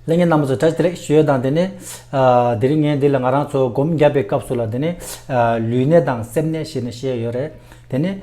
ལས་ངན་སྣ་མོ་ཚོ་གྲ་སྒྲིག་ཞོད་དང་དེ་ནས། དེ་རིང་ངས་འདི་ལ་ང་རང་ཚོ་སྒོམ་བརྒྱབ་པའི་སྐབས་སུ་ལ་དེ་ནས། ལུས་ནད་དང་སེམས་ནད་ཞེས་ནས་བཤད་ཡོད་རེད། དེ་ནས།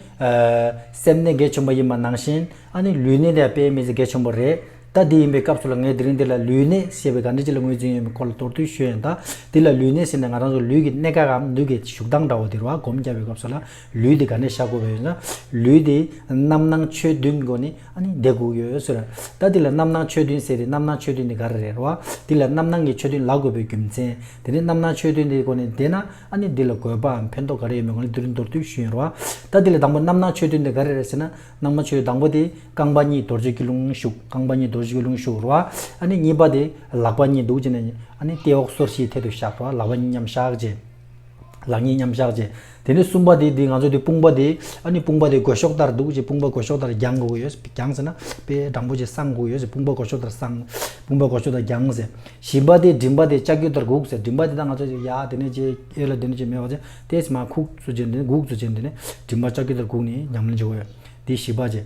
སེམས་ནད་གལ་ཆེན་པོ་ཡིན་པ་ནང་བཞིན། ཨ་ནི་ལུས་ནད་དེ་ཡང་དཔེའི་མི་ཚེ་གལ་ཆེན་པོ་རེད། ད་དེ་ཡིན་པའི་སྐབས་སུ་ལ་ངས་དེ་རིང་འདི་ལ་ལུས་ནད་ཞེས་པའི་ག་འདྲི་ཅི་ལ་ངོས་འཛིན་ཡོད་མེད་སྐོར་ལ་མདོར་བསྡུས་ཞོད་ཡང་ད་དེ་ལ་ལུས་ནད་ཟེར་ནས་ང་རང་ཚོ་ལུས་ཀྱི་གནད་ཀ་གམ་ལུས་ཀྱི་བཞུགས་སྟངས་འདྲ་བོ་དེ་རུ་ཨ་སྒོམ་བརྒྱབ་པའི་སྐབས་སུ་ལ་ལུས་དེ་ག་ནས་བཞག་དགོས་པ་ཡོད་ན། ལུས་དེ་རྣམ་སྣང་ཆོས་བདུན་སྒོ་ནས་བདེ་བགུག་ཡོད་ཟེར། ད་འདི་ལ་རྣམ་སྣང་ཆོས་བདུན་ཟེར་དེ་རྣམ་སྣང་ཆོས་བདུན་དེ་ག་རེ་རེད་ར་བ། འདི་ལ་རྣམ་སྣང་གི་ཆོས་བདུན་ལག་དགོས་པའི་རྒྱུ་མཚན། དེ་ནས་རྣམ་སྣང་ཆོས་བདུན་དེ་སྒོ་ནས་བདེ་ན། འདི་ལ་དགོས་པའམ་ཕན་ཐོགས་ག་རེ་ཡོད་མེད་གང་ལེགས་འདི་རུ་མདོར་བསྡུས་ཞུས་ཡོད་ར་བ། ད་འདི་ལ་དང་པོ་རྣམ་སྣང་ཆོས་བདུན་དེ་ག་རེ་རེད་ཟེར་ན། སྣང་མ་ཆོས་དང་པོ་དེ་རྐང་པ་གཉིས་རྡོ་རྗེ་ཀི་རླུང་ཞུགས་རྐང་པ་གཉིས་རྡོ་རྗེ་ཀི་རླུང་ཞུགས་ར་བ། གཉིས་པ་དེ་ལག་པ་གཉིས་འདུག་ཅེ་ན། ལྟེ་འོག་སོར་བཞིའི་ཐད་དུ་བཞག་ར་བ་ལག་པ་གཉིས་མཉམ་བཞག་ཅེས། ལག་གཉིས་མཉམ་གཞག་བྱས། དེ་ནས་གསུམ་པ་དེ་དེ་ང་ཚོ་དེ་དཔུང་པ་དེ་ཨ་ནི་དཔུང་པ་དེ་གོས་གཤོག་ལྟར་འདུག་ཅེས་དཔུང་པ་གོས་གཤོག་ལྟར་བརྒྱངས་དགོས་ཡོད། བརྒྱངས་ཟེར་ན་དཔེ་སྦྲང་པོ་ཆེ་བསྲང་དགོས་ཡོད་ཟེར་དཔུང་པ་གོས་གཤོག་ལྟར་བསྲང། དཔུང་པ་གོས་གཤོག་ལྟར་བརྒྱངས་ཟེར། བཞི་པ་དེ་མགྲིན་པ་དེ་ལྕགས་ཀྱུ་ལྟར་གུག་ཟེར་མགྲིན་པ་དེ་དག་ང་ཚོ་ཡ་དེ་ནས་ཅེས་ཨེ་ལ་དེ་ནས་ཅེས་མེ་བ་ཅེས་ཏེས་མ་ཁུག་ཚུལ་བྱས་འདི་ནས་གུག་ཚུལ་བྱས་འདི་ནས་མགྲིན་པ་ལྕགས་ཀྱུ་ལྟར་གུག་ནས་ཉམས་ལེན་བྱེད་དགོས་ཡོད། དེ་བཞི་པ་བྱས།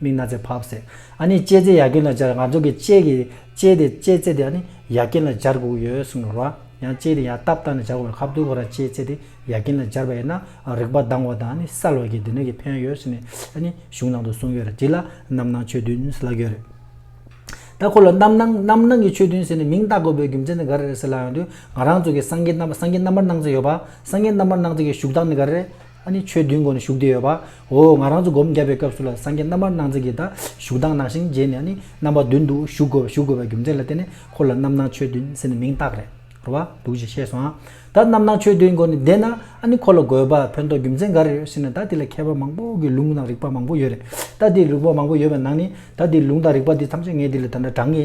མིག་སྣ་རྩེ་ཕབ་ཟེར། ཨ་ནི་ལྕེ་རྩེ་ཡ་རྒན་ལ་སྦྱར་ང་ཚོ་གི་ལྕེ་གི་ལྕེ་དེ་ལྕེ་རྩེ་དེ་ཨ་ནི་ཡ་རྒན་ལ་སྦྱར་དགོས་ཀྱི་ཡོད་གསུངས་ནོར་བ། ཡང་ལྕེ་དེ་ཡ་ལྟབ་བཏང་ནས་སྦྱར་དགོས་པའི་ཁ་བརྡུང་ཁོ་རང་ལྕེ་རྩེ་དེ་ཡ་རྒན་ལ་སྦྱར་བ་ཡིན་ན་རིག་པ་དྭངས་བ་དང་ཨ་ནི་ས་ལོ་གི་དེ་ནོས་ཀྱི་ཕན་ཡོད་ཟེར་ནས་ཨ་ནི་གཞུང་ནང་དུ་གསུངས་ཡོད་རེད་དེ་ལ་རྣམ་སྣང་ཆོས་བདུན་ཟེར་ལགས་ཡོད་རེད། ད་ཁོ་ལ་རྣམ་སྣང་རྣམ་སྣང་གི་ཆོས་བདུན་ཟེར་ནས་མིང་བཏགས་དགོས་པའི་རྒྱུ་མཚན་ནི་ག་རེ་རེད་ཟེར་ལགས་ཡོང་དུས་ང་རང་ཚོ་གི་སངས་རྒྱས་རྣམ་སངས་རྒྱས་རྣམ་པར་སྣང་ཚེ་ཡོད་པ་སངས་རྒྱས་རྣམ་པར་སྣང་ཚེ་གི་བཞུགས་སྟངས་ནི་ག་རེ་རེད། ཨ་ནི་ཆོས་བདུན་སྒོ་ནས་ཞུགས་ཏེ་ཡོད་པའོ། ང་རང་ཚོ་སྒོམ་བརྒྱབ་པའི་སྐབས་སུ་ལ་སངས་རྒྱས་རྣམ་པར་སྣང་མཛད་ཀྱིས་ད་བཞུགས་དང་ནང་བཞིན་རྗེས་ནས་ཨ་ནི་རྣམ་པ་བདུན་དུ་བཞུགས་དགོས་བཞུགས་དགོས་པའི་རྒྱུ་མཚན་ལ་བརྟེན་ནས་ཁོ་ལ་རྣམ་སྣང་ཆོས་བདུན་ཟེར་ནས་མིང་བཏགས། རེད་བ་འདུག་ཅེས་བཤད་སོང། ད་རྣམ་སྣང་ཆོས་བདུན་སྒོ་ནས་བསྡད་ན་ཨ་ནི་ཁོ་ལ་དགོས་པ་ཕན་ཐོགས་རྒྱུ་མཚན་འགའ་རེ་ཡོད་སྲིད་ན་ད་དེ་ལ་མཁས་པ་མང་པོ་གི་ལུང་དང་རིགས་པ་མང་པོ་ཡོད་རེད། ད་དེའི་རིགས་པ་མང་པོ་ཡོད་པའི་ནང་ནས་ད་དེའི་ལུང་དང་རིགས་པ་དེ་ཐམས་ཅད་ངས་དེ་ལ་ད་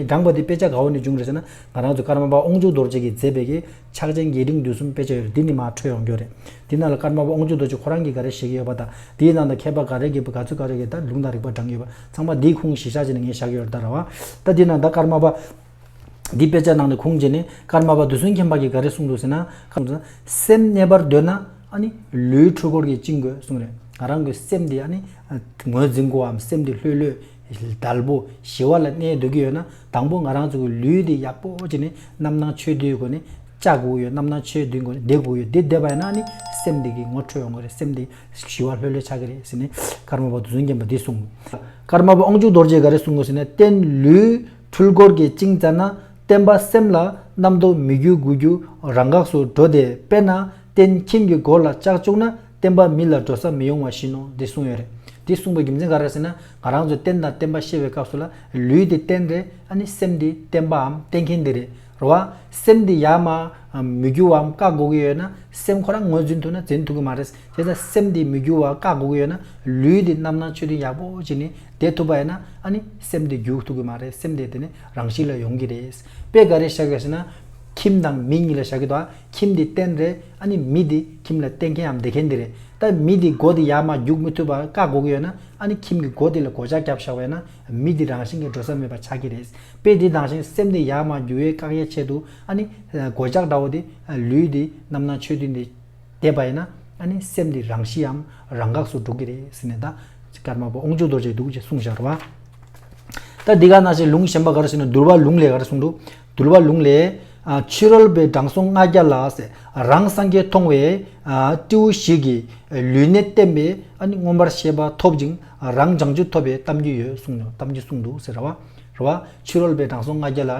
དྲངས་པ་དེ་དཔེ་ཆ་ག་བ་ནས་བྱུང་རེད་ཟེར་ན་ང་རང་ཚོ་ཀརྨ་པ་དབང་ཕྱུག་རྡོ་རྗེ་ཀྱིས་མཛད་པའི་ཀྱི་ཕྱག་ཆེན་རྒྱས་འབྲིང་བསྡུས་གསུམ་དཔེ་ཆ་ཡོད་རེད་འདི་ནི་མ་འཕྲོད་ཡོང་རྒྱུ་རེད། དེ་ནང་ལ་ཀརྨ་པ་ཨོང་ཆུང་རྡོ་རྗེ་ཁོ་རང་གིས་འགའ་རེ་བཞེས་ཀྱི་ཡོད་པ་དང་དེའི་ནང་དུ་མཁས་པ་འགའ་རེ་གྱིས་ག་ཚོད་ག་རེ་གྱིས་ད་ལུང་དང་རིགས་པ་བགྲང་ཡོད་པ་ཚང་མ་འདིའི་ཁུངས་གཞི་ཕྱག་ཆེན་ནས་ངས་བཞག་ཡོད་རེད་ད་ར་བ། ད་འདི་ནང་ད་ཀརྨ་པ། འདིའི་དཔེ་ཆ་ནང་ནས་ཁུངས་བཅད་ནས་ཀརྨ་པ་བདུད་སྲིན་མཁྱེན་འཕགས་ཀྱིས་ག་རེ་གསུངས་འདུག་ཟེར་ན། སེམས་གནས་པར་འདོད་ན་ཨ་ནི་ལུས་འཁྲུལ་འཁོར་གྱིས་བཅིང་དགོས་གསུངས་རེད། ང་རང་གི་སེམས་འདི་ཨ་ནི། ངོས་འཛིན་གོ་བའམ་སེམས་འདི་ལྷོད་ལྷོད། དལ་པོ་ཞི་བ་ལ་གནས་སྡོད་ཀྱི་ཡོད་ན་དང་པོ་ང་རང་ཚོ་གི་ལུས་འདི་ཡག་པོ་བྱས་ནས་རྣམ་སྣང་ཆོས་འདིའི་སྒོ་ནས་བཅའ་དགོས་ཀྱི་ཡོད་རྣམ་སྣང་ཆོས་འདིའི་སྒོ་ནས་བསྡད་དགོས་ཀྱི་ཡོད་འདི་བསྡད་པ་ཡིན་ན་ནི་སེམས་འདི་གི་ངོ་འཕྲོད་ཡོང་གི་རེད་སེམས་འདི་ཞི་བ་ལྷོད་ལྷོད་ཆགས་ཀྱི་རེད་ཟེར་ནས་ཀརྨ་པ་དུས་གསུམ་མཁྱེན་པ་འདིས་གསུངས། ཀརྨ་པ་ཨོང་ཆུང་རྡོ་རྗེས་ག་རེ་གསུངས་ངོ་ཟེར་ན་རྟེན་ལུས་འཁྲུལ་འཁོར་གྱི་བཅིངས་བཙལ་ན་བརྟན་པ་སེམས་ལ་རྣམ་རྟོག་མི་རྒྱུ་དགུ་རྒྱུ་རང་འགགས་སུ་འགྲོ་དེ་དཔེར་ན་རྟེན་ཁྱིམ་གྱི་སྒོ་ལ་ལྕགས་བཅུག་ན། བསྟན་པ་མི་ལ་འགྲོ་ས་མི་ཡོང་བ་བཞིན་ནོ་འདི་གསུངས་ཡོད་རེད་དེ་གསུངས་པའི་རྒྱུ་མཚན་ག་རེ་ཟེར་ན་ང་རང་ཚོས་བསྟན་དང་བསྟན་པ་བཤད་པའི་སྐབས་སུ་ལ་ལུས་འདི་བསྟན་རེད་ཨ་ནི་སེམས་འདི་བསྟན་པའམ་བསྟན་མཁན་འདི་རེད་རེད་བ། སེམས་འདི་ཡར་མར་མི་འགྱུར་བའམ་བཀག་འགོག་གི་ཡོད་ན་སེམས་ཁོ་རང་ངོས་འཛིན་ཐུབ་ན་འཛིན་ཐུབ་ཀྱི་མ་རེད་བྱས་ཙང་སེམས་འདི་མི་འགྱུར་བ་བཀག་འགོག་གི་ཡོད་ན་ལུས་འདི་རྣམ་སྣང་ཆོས་འདི་ཡག་པོ་ཅིག་ནི་བསྡད་ཐུབ་པ་ཡིན་ན་ཨ་ནི་སེམས་འདི་རྒྱུག་ཐུབ་ཀྱི་མ་རེད་སེམས་འདི་དེ་ནི་རང་ཞིག་ལ་ཡོང་གི་རེད་དཔེ་ག་རེ་བཞག་ཡོད་ཟེར་ན། ཁྱིམ་དང་མི་གཉིས་ལ་བཞག་གི་འདུག་ཁྱིམ་འདི་བརྟན་རེད་ཨ་ནི་མི་འདི་ཁྱིམ་ལ་བརྟེན་མཁན་འམ་འདེད་མཁན་འདི་རེད་ད་མི་འདི་སྒོ་འདི་ཡར་མར་རྒྱུག་མི་ཐུབ་པ་བཀག་འགོག་གི་ཡོད་ན་ཨ་ནི་ཁྱིམ་གྱི་སྒོ་འདི་ལ་སྒོ་ལྕགས་བརྒྱབ་བཞག་བས་ན་མི་འདི་རང་བཞིན་གྱི་འགྲོ་ས་མེད་པ་ཆགས་ཀྱི་རེད་དཔེ་འདི་དང་བཞིན་སེམས་འདི་ཡར་མར་རྒྱུག་ཡས་བཀག་ཡས་ཆེད་དུ་ཨ་ནི་སྒོ་ལྕགས་འདྲ་བོ་འདི་ལུས་འདི་རྣམ་སྣང་ཆོས་འདུས་འདི་འདེད་པ་ཡིན་ན་ཨ་ནི་སེམས་འདི་རང་ཤི་འམ་རང་འགགས་སུ་འགྲོ་གི་རེད་ཟེར་ནས་ད་ཀརྨ་པ་ཨོང་ཆུ་རྡོ་རྗེས་འདུག་ཅེས་གསུངས་བཞག་འགྲོ་བ། ད་འདི་ག་ན་བཞིན་ལུང་གཞན་པ་ག་རུ་ཟེར་ན་དུར་བ་ལུང་ལས་ག་རུ་གསུངས་འདུག་དུལ་བ་ལུང་ལས། ཕྱི་རོལ་པའི་དྲང་སྲོང་ལྔ་བརྒྱ་ལ། རང་སངས་རྒྱས་མཐོང་བའི་སྤྲེའུ་ཞིག་གིས། ལུས་གནད་བརྟན་པས་མངོན་པར་ཤེས་པ་ཐོབ་ཅིང་རང་སྦྱང་ཆོས་ཐོབ་པའི་གཏམ་རྒྱུད་ཡོད་གསུངས་འདུག་ཟེར། རེ་བ། ཕྱི་རོལ་པའི་དྲང་སྲོང་ལྔ་བརྒྱ་ལ།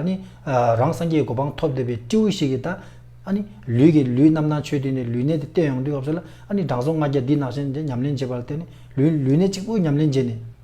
རང་སངས་རྒྱས་གོ་འཕང་ཐོབ་བསྡད་པའི་སྤྲེའུ་ཞིག་གིས། ལུས་ཀྱི་ལུས་རྣམ་སྣང་ཆོས་སྟོན་ཏེ་ལུས་གནད་དེ་བརྟན་ཡོང་དུས་སྐབས་སུ། དྲང་སྲོང་ལྔ་བརྒྱ་འདིས་ནགས་ཞེན་ཉམས་ལེན་བྱེད་པ་ལ་བརྟེན་ནས་ལུས་གནད་གཅིག་པུ་ཉམས་ལེན་བྱས་ནས།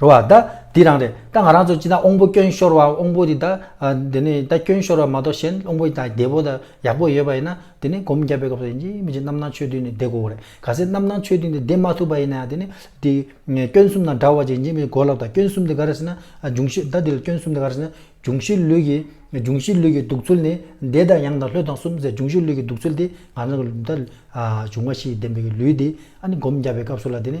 རོ། བ་ད། འདི་རང་རེད་ད་ང་རང་ཚོ་ཅི་ད་དབང་པོ་སྐྱོན་ཤོར་བ་དབང་པོ་དེ་ད། དེ་ནི་ད་སྐྱོན་ཤོར་བ་མ་གཏོགས་གཞན་དབང་པོ་ད་བདེ་པོ་ད་ཡག་པོ་ཡོད་པ་ཡིན་ན་དེ་ནི་སྒོམ་རྒྱབ་པའི་སྐབས་སུ་ཡིན་གཅིག་མི་གཅིག་རྣམ་སྣང་ཆོས་བདུན་ནི་བདེ་དགོས་རེད་ག་སྲིད་རྣམ་སྣང་ཆོས་བདུན་དེ་བདེ་མ་ཐུབ་པ་ཡིན་ན་ཡང་དེ་ནི་དེ། སྐྱོན་གསུམ་དང་འདྲ་བ་ཅིག་ཡིན་གཅིག་མི་གཅིག་གོ་ལ་ད་སྐྱོན་གསུམ་དེ་ག་རེ་ཟེར་ན་འབྱུང་བཞི་ད་དེ་ལ་སྐྱོན་གསུམ་དེ་ག་རེ་ཟེར་ན་འབྱུང་བཞི་ལུས་ཀྱི། འབྱུང་བཞི་ལུས་ཀྱི་འདུག་ཚུལ་ནི་བདེ་དང་ཡང་དང་ལྷོད་དང་གསུམ་ཟེར་འབྱུང་བཞི་ལུས་ཀྱི་འདུག་ཚུལ་དེ་ང་ཚོ་ལ་ད། བྱུང་བ་ཞིག་ལྡན་པའི་ལུས་དེ་ཨ་ནི་སྒོམ་རྒྱབ་པའི་སྐབས་སུ་ལ་དེ་ནི།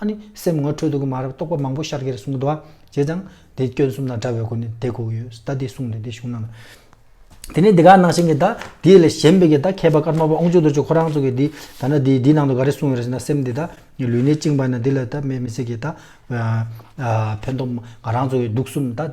ཨ་ནི་སེམས་ངོ་འཕྲོད་དུ་གོ་མ་རབས་རྟོག་པ་མང་པོ་ཤར་གྱི་རེད་གསུང་གི་འདུག་བ། བྱས་ཙང། དེ་སྐྱོན་གསུམ་དང་འདྲ་བའི་སྒོ་ནས་དེ་གོ་ཡོད་ད་དེ་གསུང་དོན་དེ་གཞུང་ནང། དེ་ནས་འདི་ག་ནང་བཞིན་གྱི་ད་དེའི་ལས་གཞན་པའི་གྱི་ད་མཁས་པ་ཀརྨ་པ་ཨོང་ཆོས་རྡོ་རྗེ་ཁོ་རང་ཚོ་གི་འདི་ད་ན་འདི་འདི་ནང་དུ་ག་རེ་གསུང་ཡོད་རེད་ཟེར་ན་སེམས་འདི་ད་ལུས་གནད་བཅིངས་པ་ན་འདི་ལ་ད་མེ་མི་སྲེག་གི་ད། ཕན་འདོགས་ང་རང་ཚོ་གི་འདུག་གསུམ་ད།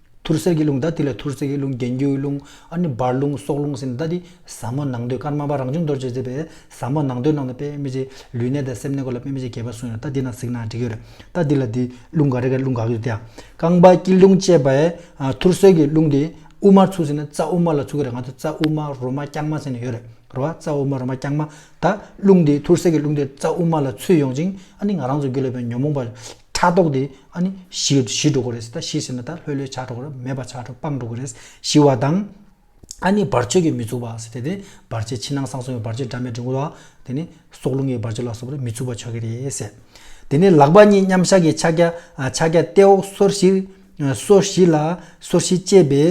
ཐུར་སེར་གྱི་རླུང་ཟླ་དེ་ལ་ཐུར་སེར་གྱི་རླུང་གྱེན་རྒྱུའི་རླུང་ཨ་ནི་འབར་རླུང་སྲོག་རླུང་ཟིན་ཟླ་འདི་ཟབ་མོ་ནང་འདོད་དཀར་དམར་བ་རང་བྱུང་རྡོ་རྗེ་མཛེས་པའི་ཟབ་མོ་ནང་འདོད་ནང་དུ་དཔེ་མི་བྱེད་ལུས་གནད་དང་སེམས་གནད་སྐོར་ལ་དཔེ་མི་བྱེད་གྱེས་པར་གསུངས་ཡོད་ཟླ་འདི་ན་གཟིགས་ན་འགྲིག་ཡོད་རེད་ཟླ་འདི་ལ་འདི་རླུང་ག་རེ་ག་རེ་རླུང་ག་གེ་ཡོད་དེ་ཡང་རྐང་པ་སྐྱིལ་ཀྲུང་བཅས་པའི་ཐུར་སེར་གྱི་རླུང་འདི་དབུ་མར་ཚུགས་ཟིན་ན་རྩ་དབུ་མ་ལ་ཚུགས་གི་རེད་ང་ཚོ་རྩ་དབུ་མ་རོ་མ་རྐྱང་མ་ཟེར་ནས་ཡོད་རེད་རོ་ཨ་རྩ་དབུ་མ་རོ་མ་རྐྱང་མ་ད་རླུང་འདི་ཐུར་སེར་གྱི་རླུང་འདི་རྩ་དབུ་མ་ལ་ཚུད་ཡོང་ཅིང་ཨ་ནི་ང་རང་ཚོ་རྒྱུ་ལས་པའི་ཉོན་མོངས་པ་ཕྲག་དོག་དེ་ཨ་ནི་ཞི་ཞི་འགྲོ་གི་རེད་ད་ཞི་ཟེར་ན་ད་ལྷོད་ལྷོད་བྱ་འགྲོ་གི་རེད་མེད་པ་བྱ་འགྲོ་སྤང་འགྲོ་གི་རེད་ཞི་བ་དང། ཨ་ནི་བར་ཆོད་ཀྱི་མི་ཚུགས་པ་ཟེར་ཏེ་དེ་བར་ཆད་ཕྱི་ནང་གསང་གསུམ་གྱི་བར་ཆད་དགྲ་མེད་འགྲོ་འགུ་ལ་དེ་ནི་སྲོག་རླུང་གི་བར་ཆད་ལ་སོགས་པ་མི་ཚུགས་པ་ཆོག་གི་རེད་ཟེར། དེ་ནས་ལག་པ་གཉིས་མཉམ་བཞག་གི་ཕྱག་རྒྱ་ཕྱག་རྒྱ་ལྟེ་འོག་སོར་བཞིར་སོར་བཞི་ལ་སོར་བཞི་བཅས་པའི།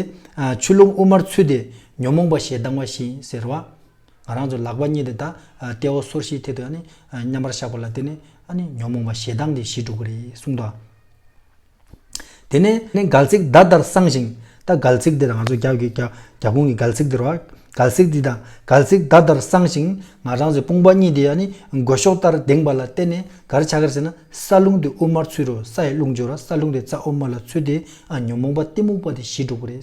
ཆུ་ཀླུང་དབུ་མར་ཚུད་དེ་ཉོན་མོངས་པ་ཞེ་སྡང་བ་བཞིན་ཟེར་བ། ང་རང་ཚོའི་ལག་པ་རྙེད་དེ་དང་ལྟེ་བ་སོར་བཞིའི་ཐད་དུ་མཉམ་པར་བཞག་པ་ལ་དེ་ནི་ཉོན་མོངས་པ་ཞེ་སྡང་གི་གཞི་དྲུག་གི་རེད་གསུངས་ཏོ། དེ་ནས། ནས་གལ་ཚིག་མདའ་ལྟར་སངས་ཤིང། ད་གལ་ཚིག་འདི་དང་ང་ཚོ་རྒྱ་བརྒྱུད་རྒྱ་གོང་གི་གལ་ཚིག་འདིར། གལ་ཚིག་འདི་དང་གལ་ཚིག་མདའ་ལྟར་སངས་ཤིང། ང་རང་ཚོའི་དཔུང་པ་རྙེད་དེ་མགོ་ཤོག་ལྟར་གདེངས་པ་ལ་བརྟེན་ནས་གར་བྱ་གར་བྱས་ན་ས་རླུང་དེ་དབུ་མར་ཚུད་རུང་ས་ཡི་རླུང་འབྱོར་བ་ས་རླུང་དེ་རྩ་དབུ་མ་ལ་ཚུད་དེ་ཉོན་མོངས་པ་གཏི་མུག་པ་དེ་གཞི་དྲུག་པོ་རེད།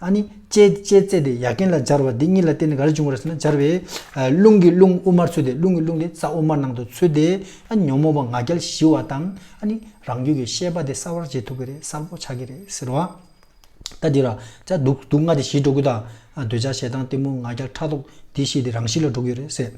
ཨ་ནི། ལྕེའི་ལྕེ་རྩེ་དེ་ཡ་གན་ལ་སྦྱར་བ་འདི་གཉིས་ལ་བརྟེན་ནས་ག་རེ་འབྱུང་བ་རེད་ཟེར་ན་སྦྱར་བས། རླུང་གིས་རླུང་དབུ་མར་ཚུད་དེ་རླུང་གིས་རླུང་དེ་རྩ་དབུ་མར་ནང་དུ་ཚུད་དེ། ཨ་ནི་ཉོན་མོངས་པ་ང་རྒྱལ་ཞི་བ་དང། ཨ་ནི། རང་རྒྱུད་ཀྱི་ཤེས་པ་དེ་གསར་བར་བྱེད་ཐུབ་ཀྱི་རེད་གསར་བོ་ཆགས་ཀྱི་རེད་ཟེར་བ། ད་འདི་ར། ལྕགས་སྡུག་སྡུག་ལྔ་དེ་བཞིས་འགྲོ་གི་དང། འདོད་ཆགས་ཞེ་སྡང་གཏི་མུག་ང་རྒྱལ་ཕྲག་དོག་འདི་བཞིས་དེ་རང་བཞིན་ལ་འགྲོ་གི་རེད་ཟེར།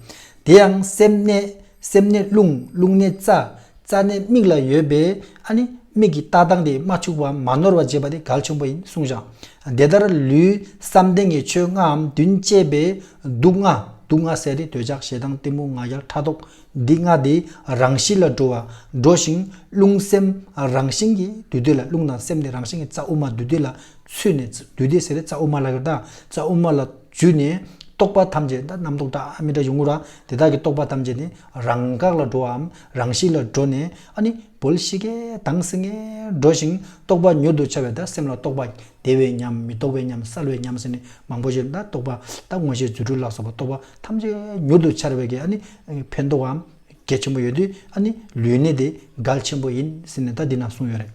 དེ་ཡང་སེམས་གནས། སེམས་ནི་རླུང་རླུང་ནི་རྩ་རྩ་ནི་མིག་ལ་ཡོད་པས་ཨ་ནི་མིག་གི་ལྟ་སྟངས་དེ་མ་འཆུགས་པ་མ་ནོར་བ་བྱེད་པ་དེ་གལ་ཆེན་པོ་ཡིན་གསུངས་བཞག་དེ་ལྟར་ལུས་བསམ་གཏན་གྱི་ཆོས་ལྔའམ་བདུན་བསྐྱེད་པས་དུག་ལྔ་དུག་ལྔ་ཟད་དེ་འདོད་ཆགས་ཞེ་སྡང་གཏི་མུག་ང་རྒྱལ་ཕྲག་དོག་འདི་ལྔ་དེ་རང་ཞི་ལ་འགྲོ་བ་འགྲོ་ཞིང་རླུང་སེམས་རང་བཞིན་གྱིས་འདུས་འདོད་ལ་རླུང་དང་སེམས་དེ་རང་བཞིན་གྱིས་རྩ་དབུ་མར་འདུས་འདོད་ལ་ཚུད་ནས་འདུས་འདོད་ཟད་དེ་རྩ་དབུ་མ་ལ་ཡོད་ལྟ་རྩ་དབུ་མ་ལ། བརྒྱུད་ནས་རྟོག་པ་ཐམས་ཅད་རྣམ་རྟོག་དག་མི་འདྲ་ཡུལ་ངོ་ར་དེ་དག་གི་རྟོག་པ་ཐམས་ཅད་ནི་རང་འགགས་ལ་འགྲོ་བའམ་རང་ཞི་ལ་འགྲོ་ནས་ནི་བོལ་ཤི་ཀའི་དྭངས་བསིལ་ངེས་འགྲོ་ཞིང་རྟོག་པ་མྱུར་དུ་འཆར་བས་དག་སེམས་ལ་རྟོག་པ་བདེ་བའི་ཉམས་མི་རྟོག་པའི་ཉམས་སལ་བའི་ཉམས་སེམས་ནི་མང་པོ་ཞིག་རྟོག་པ་དག་ངོ་ཤེས་རྫུ་འཕྲུལ་ལ་སོགས་པ་རྟོག་པ་ཐམས་ཅད་མྱུར་དུ་འཆར་བས་ཀྱི་ནི་ཕན་འདོགས་པའམ་གལ་ཆེན་པོ་ཡོད་དུས་ནི་ལུས་གནད་དེ་འགལ་ཆེན་པོ་ཡིན་ཟེར་ནས་དག་འདི་ན་གསུངས་ཡོད་རེད།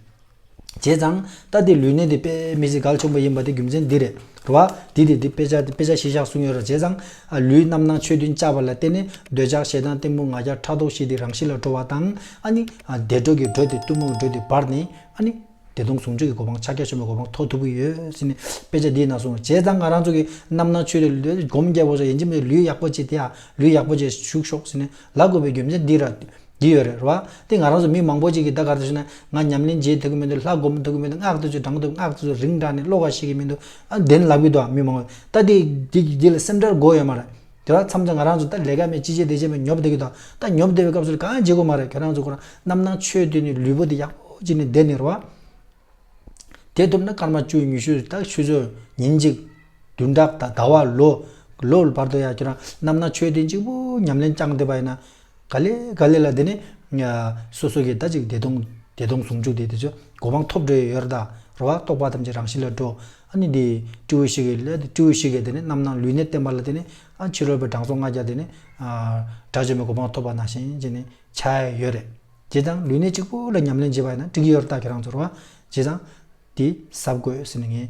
བྱས་ཙང། རྟ་དེའི་ལུས་གནད་དེ་དཔེ་མི་སྲིད་དགག་ཆོག་པ་ཡིན་པ་དེ་རྒྱུ་མཚན་འདི་རེད། རེ་བ། འདི་དེ་འདི་དཔེ་ཆ་དཔེ་ཆ་ཤི་བཞག་གསུངས་ཡོད་ར་བྱས་ཙང། ལུས་རྣམ་སྣང་ཆོས་བདུན་བཅའ་བ་ལ་བརྟེན་ནས་འདོད་ཆགས་ཞེ་སྡང་གཏི་མུག་ང་རྒྱལ་ཕྲག་དོག་བཞི་དེ་རང་ཞི་ལ་འགྲོ་བ་དང། ཨ་ནི། བདེ་དྲོད་ཀྱི་འགྲོས་དེ་གཏུམ་མོའི་འགྲོས་དེ་འབར་ནས། ཨ་ནི། བདེ་སྟོང་ཟུང་འཇུག་གི་གོ་འཕང་ཕྱག་རྒྱ་ཆེན་པོའི་གོ་འཕང་ཐོག་ཐུབ་ཀྱི་ཡོད། ཟེར་ནས་དཔེ་ཆ་འདིའི་ནང་གསུངས་ར་བྱས་ཙང་ང་རང་ཚོ་གི་རྣམ་སྣང་ཆོས་དེ་ལུས་སྒོམ་རྒྱལ་པོ་ཚོ་ཡན་ཅིག་མེད་ལུས་ཡག་པོ་བྱེད་དེ་ཡ་ལུས་ཡག་པོ་བྱེད་ཞུགས་ཤོག་ཟེར་ནས། ལ་དགོས་པའི་རྒྱུ་མཚན་འདི་ར་འདི་ཡོད་རེད་བ། དེ་ང་རང་ཚོ་མི་མང་པོ་ཅིག་གིས་ད་གར་དུ་ཞུགས་ན་ང་ཉམས་ལེན་བྱེད་ཐུབ་ཀྱི་མི་འདུག་ལྷ་བསྒོམ་ཐུབ་ཀྱི་མི་འདུག་སྔགས་ཏུ་ཆུ་འབྲང་ཐུབ་སྔགས་ཏུ་ཆུ་རིང་དྲགས་ནས་ཀློག་ག་ཤེས་ཀྱི་མི་འདུག་ཨ་བདེན་ལབ་ཀྱི་འདུག་མི་མང་པོས་ད་དེ་དེ་ལ་སེམས་ཁྲལ་དགོས་ཡོད་མ་རེད། དེ་བ་མཚམས་མཚམས་ང་རང་ཚོ་ད་ལས་ཀ་མེད་ཅི་བྱེད་འདི་བྱེད་མེད་ཉོབ་བསྡད་ཀྱི་འདུག་ད་ཉོབ་བསྡད་པའི་སྐབས་སུ་ལ་གང་ཡང་བྱེད་དགོས་མ་རེད་ཁྱེད་རང་ཚོ་ཁོ་རང་རྣམ་སྣང་ཆོས་བསྟོད་ནས་ལུས་པོ་དེ་ཡག་པོ་བྱས་ནས་བསྡད་ནས་ར་བ། དེ་ཐུབ་ན་སྐར་མ་བཅུའི་ཉི་ཤུ་དང་ཆུ་ཚོད་ཉིན་གཅིག། བདུན་ཕྲག་དང་ཟླ་བ་ལོ། ལོའི་བར་དུ་ཡང་ཁྱོད་རང་རྣམས་ན་ཆོས་དེ་གཅིག་པུ་ཉམས་ལེན་རྐྱང་བསྡད་པ་ཡིན་ན། ག་ལེ་ག་ལེ་ལ་དེ་ནི། སོ་སོ་གིས་ད་ཅིག་བདེ་སྟོང་བདེ་སྟོང་ཟུང་འཇུག་དེ་དེ་ཚོའི་གོ་འཕང་ཐོབ་འདོད་ཡོད་ར་རོ་ཨ་རྟོགས་པ་ཐམས་ཅད་རང་བཞིན་ལ་འགྲོ། ཨ་ནི་འདི། སྤྲེའུ་བཤིག་གི་ལས་དེ་སྤྲེའུ་བཤིག་གི་དེ་ནི་རྣམ་སྣང་ལུས་གནད་བསྟན་པ་ལ་དེ་ནི། ཨ་ཕྱི་རོལ་པའི་དྲང་སྲོང་ལྔ་བརྒྱ་དེ་ནི། དགྲ་བཅོམ་པའི་གོ་འཕང་ཐོབ་པ་ན་བཞིན་བྱས་ནས་བྱས་ཡོད་རེད། བྱེད་དང། ལུས་གནད་གཅིག་པུ་ལ་ཉམས་ལེན་བྱེད་པ་ཡིན་ན་ཀྲིག་ཡོར་བཏགས་ཀྱི་རང་ཚོར་བ། བྱེད་དང། དེ། གཟབ་དགོས་ཟེར་ནས་ངས།